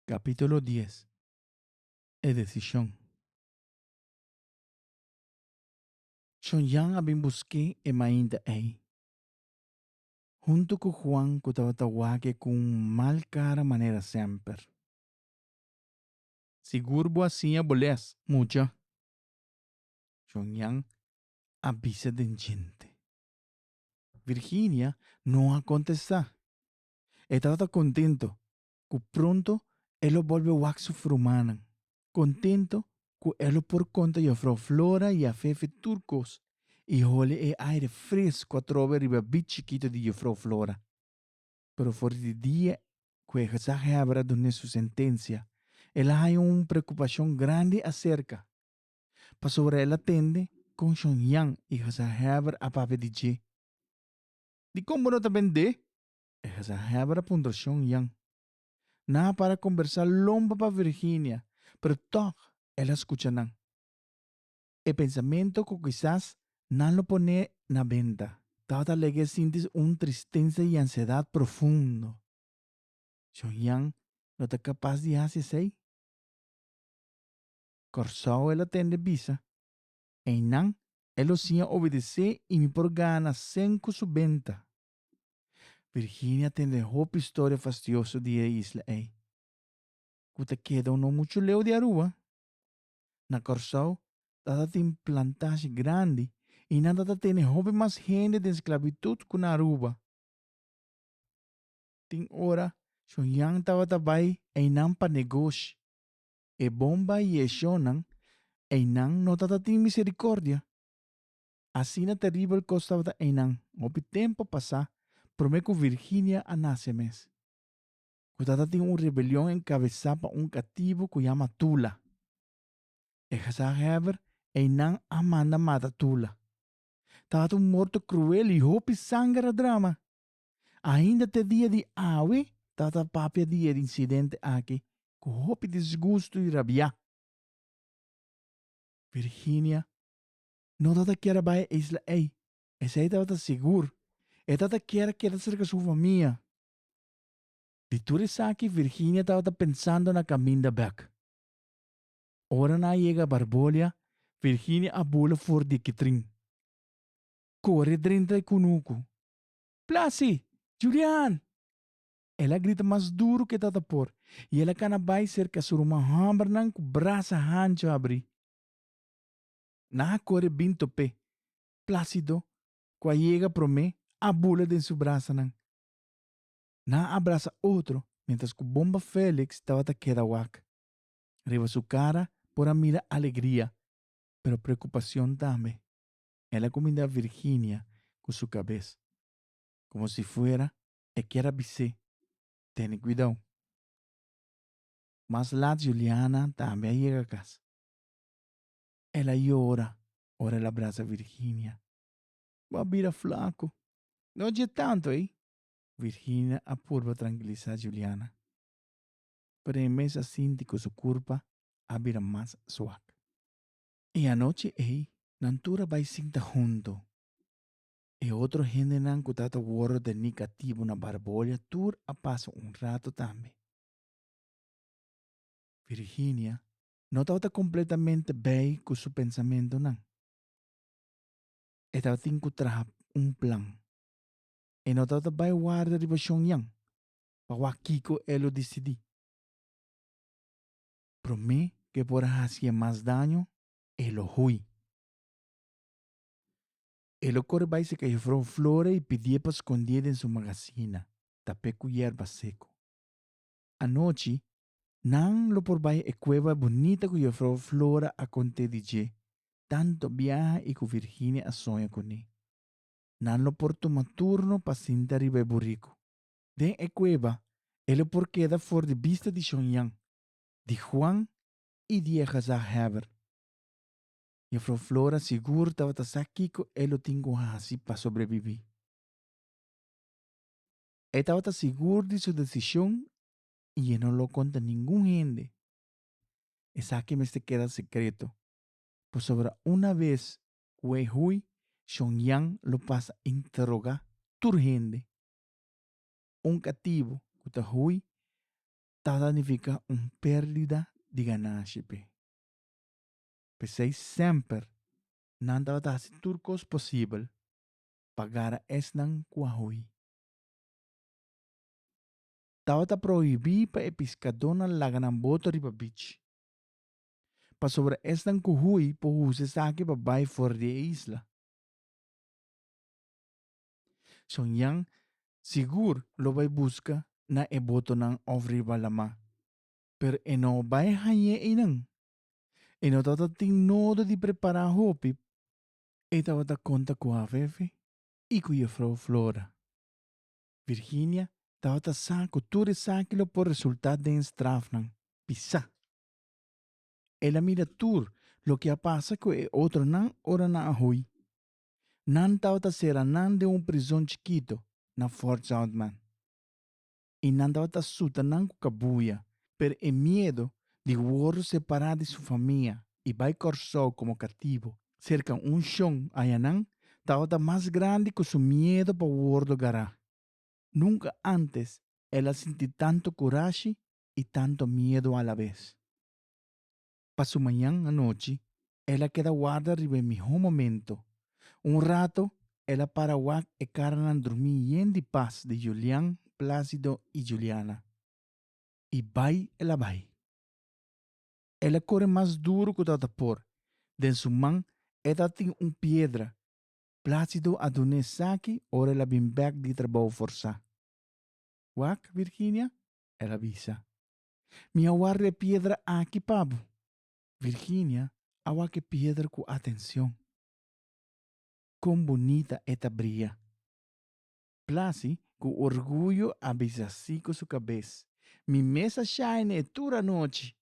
Capítulo dies E decision Shon Jan a bin busqué e mainta ei, huntu cu Juan cu tabata wake cu un mal cara manera semper. Sigur bo a siña bo les, mucha! Shon Jan a bisa den djente. Virginia no a contesta. E tabata kontentu ku pronto e lo bolbe wak su frumannan, kontentu ku e lo por konta yofrou Flora i Afefe tur kos i holi e aire fresku a trobe riba bid chikitu di yofrou Flora. Pero for di dia ku e gezaghèber a dun'é su sentensia, el a haña un preokupashon grandi aserka, pasobra el a tende kon Shongyang i gezaghèber a papia di dje. Dikon bo no ta bend'é? E gezelhebber a puntra Shon Yan. Nan a para kombersá lompe pa Virginia, pero tòg el a skucha nan. E pensamentu ku kisas nan lo pon'é na benta. Tabata Legge sinti un tristensa i ansiedat profundo. Shon Yan no ta kapas di hasi esei. Kòrsou el a tende bisa Einan e lo siña obedesé i mi por gana sen ku su benta. Virginia tende hopi storia fastioso di e isla ei, ku ta keda un no muchu leu di Aruba. Na Kòrsou tabatin plantashi grandi i nan ta ta tene hopi mas hende den sklabitut ku na Aruba. Tin ora Shonyan tabata bai einan pa negoshi. e bomba i e shownan, einan no tatatin misericordia. Asina terribel cos tabata einan hopi tempo pasá prome cu Virginia a nace mes. Cu tatatin un rebelion encabesá pa un cativo cu yama Tula. E gezagheber einan a manda mata Tula. Tabata un morto cruel i hopi sanger a drama. Ainda te dia di awe ta ta papia di e insidente aki ku hopi disgustu i rabiá. Virginia no ta ta kier a bai e isla ei, esei tabata sigur. E ta ta kier a keda serka su famia. Di tur esaki Virginia tabata pensando na kaminda bèk. Ora nan a yega Barbolia, Virginia a bula for di e kitrin. Kore drentra e kunuku, Plasi! Julian! El a grita mas duru ke tata por, i el a kana bai serka su ruman hòmbernan ku brasa hanchu abrí. Nan a kore bin top'é. Plásido, ku a yega promé, a bula den su brasanan. Nan a brasa otro, miéntras ku Bomba Félix tabata keda wak. Riba su kara por a mira alegria, pero preokupashon tambe. el a cuminda Virginia cu su cabes, como si fuera e kier a bis'é, Tene cuidao. Mas lat Juliana tambe a yega cas. El a yora ora el a brasa Virginia. Bo a bira flaco. No a dje tanto ey. Virginia a purba trankilisa Juliana, pero e mes a sinti cu su curpa a bira mas suak. E anochi ei nan tur a bai sinta huntu. E otro hendenan ku ta ta wordo den mi katibu na Barbolia tur a pasa un rato tambe. Virginia no tabata kompletamente bei ku su pensamentunan. E tabatin ku traha un plan. E no tabata bai warda riba Shonyan pa wak kiko e lo disidí. Promé ke por hasié mas daño e lo hui. E lo kore bai seka Jefrou flore i pidié pa skondié den su magasina, tapé ku yerba seko. Anochi, nan lo por bai e kueba bunita ku Jefrou flore a kont'é di dje, tantu biaha i ku Virginia a soña kuné. Nan lo por tuma turno pa sinta riba e buriku. Den e kueba, e lo por keda for di bista di Shonyan, di Juan i di e gezagheber. Jefrouw Flora sigur tabata sa kiko e lo tin ku hasi pa sobrebibí. E tabata sigur di su desishon i e no lo konta ningun hende. Esaki mester keda sekreto, pasobra una bes ku e hui Shon Yan lo pasa interogá tur hende. Un katibu ku ta hui ta sanifiká un pérdida di gananshi p'e. P'esei semper nan tabata hasi tur kos posibel pa gara esnan ku a hui. Tabata prohibí pa e piskadónan laga nan boto riba bich, pasobra esnan ku hui por usa esaki pa bai for di e isla. Son Jan sigur lo bai buska na e botonan òf riba lamá. Pero e no bai hañ'é einan. E no tabata tin nodo di prepará hopi, e tabata konta ku Afefe i ku Jefrou Flora. Virginia tabata sa ku tur esaki lo por resultá den strafnan. Bisá! El a mira tur loke a pasa ku e otronan ora nan a hui. Nan tabata sera nan den un prizon chikito na Fort Zoutman i nan tabata suta nan ku kabuya, pero e miedo di wòrdu separá di su famia i bai Kòrsou komo katibu serka un shon ayanan tabata mas grandi ku su miedo pa wòrdu gará. Nunka ántes el a sinti tantu kurashi i tantu miedo alabes. pa su mañan anochi, el a keda warda riba e mihó momento. Un rato, el a para wak e karanan drumí yen di pas di Julian, Plácido i Juliana. I bai el a bai. El a kore mas duru ku ta ta por. Den su man e ta tin un piedra. Plácido a dun'é esaki ora el a bin bèk di trabou forsá. Wak, Virginia? el a bisa. Mi a warda e piedra aki pa bo. Virginia a wak e piedra ku atenshon. Kon bunita e ta bria! Blasi ku orguyo a bisa si ku su kabes. Mi mes a shaina e tur anochi!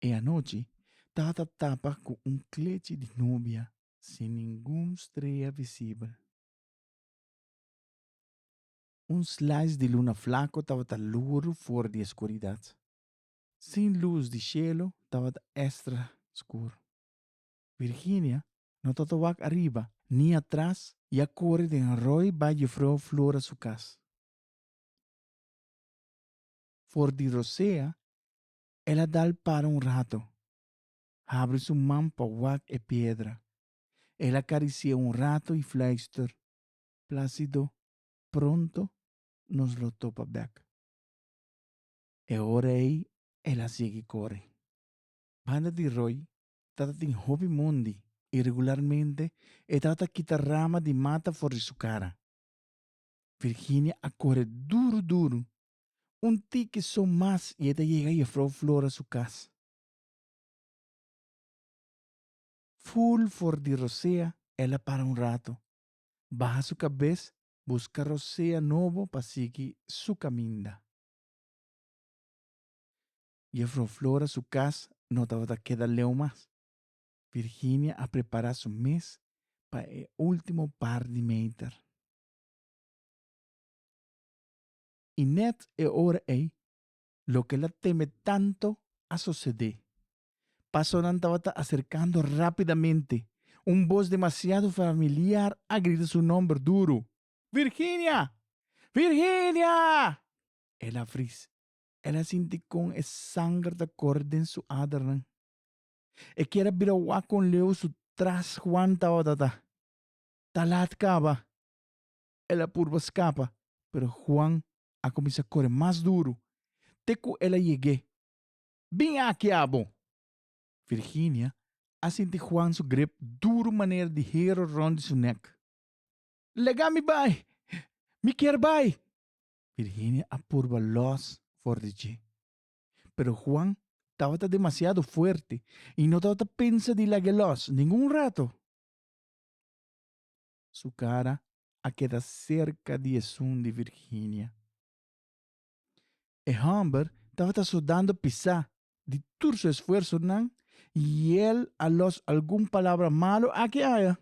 E anochi tata tapa ku un klechi di nubia sin ningun strea visibel. Un slice di luna flaco tabata loer for di escuridad. Sin luz di cielo tabata extra scur. Virginia no ta ta wak ariba ni atras y a core den roi bay Jufrou Flora su cas. For di rosea el a dal para un rato. Habri su man pa wak e piedra. El a carici'e un rato y fluister, Placido, pronto nos lo topa bek. E ora ei el a sigui kore. Banda di roi tata tin hopi mondi i regularmente e tata ta kita rama di mata for di su kara. Virginia a kore duru duru, un tiki so mas i e ta yega Jefrouw Flora su kas. Ful for di rosea el a para un rato baha su kabes buska rosea nobo pa sigui su kaminda. Jefrouw Flora su kas no tabata keda leu mas. Virginia a prepara su mes pa e ultimo par di meter. I net e ora ei loke el a teme tantu a sosodé. Pasonan tabata aserkando rápidamente. Un bos demasiado familiar a grita su nòmber duru, Virginia! Virginia! El a fris. El a sinti kon e sanger ta kore den su adernan. E kier a bira wak kon leu su tras Juan tabata ta. Ta lat kaba. el a purba scapa, pero Juan a cuminsa core mas duro, te cu el a yegue. Bin aki abo! Virginia a sinti Juan su grip duro manera di hero rond di su nek. Lega mi bay! Mi kier bay! Virginia a purba los for di dje. Pero Juan tabata demasiado fuerte y no tabata pensa di lag'e los ningun rato. su cara a keda cerca di e sun di Virginia. E homber tabata sudando pisa di tur su esfuersonan y el a los algun palabra malo aki aya.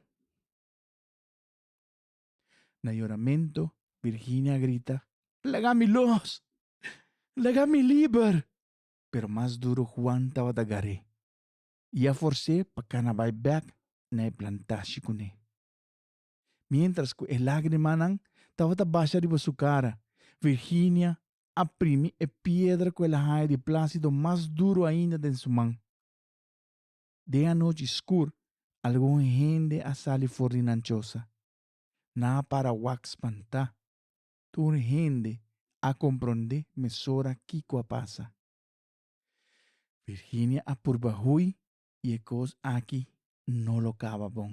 Na yoramento Virginia a grita, Laga mi los! Laga mi liber! Pero mas duro Juan tabata gar'é. i a fors'é pa kana bai bèk na e plantashi kuné. Miéntras ku e lágrimanan tabata basha riba su kara, Virginia a primi e piedra ku el a haña di Plácido mas duru ainda den su man. Den anochi skur algun hende a sali for di nan chosa. Nan a para wak spantá. Tur hende a komprondé mesora kiko a pasa. Virginia a purba hui y e cos aki no lo caba bon.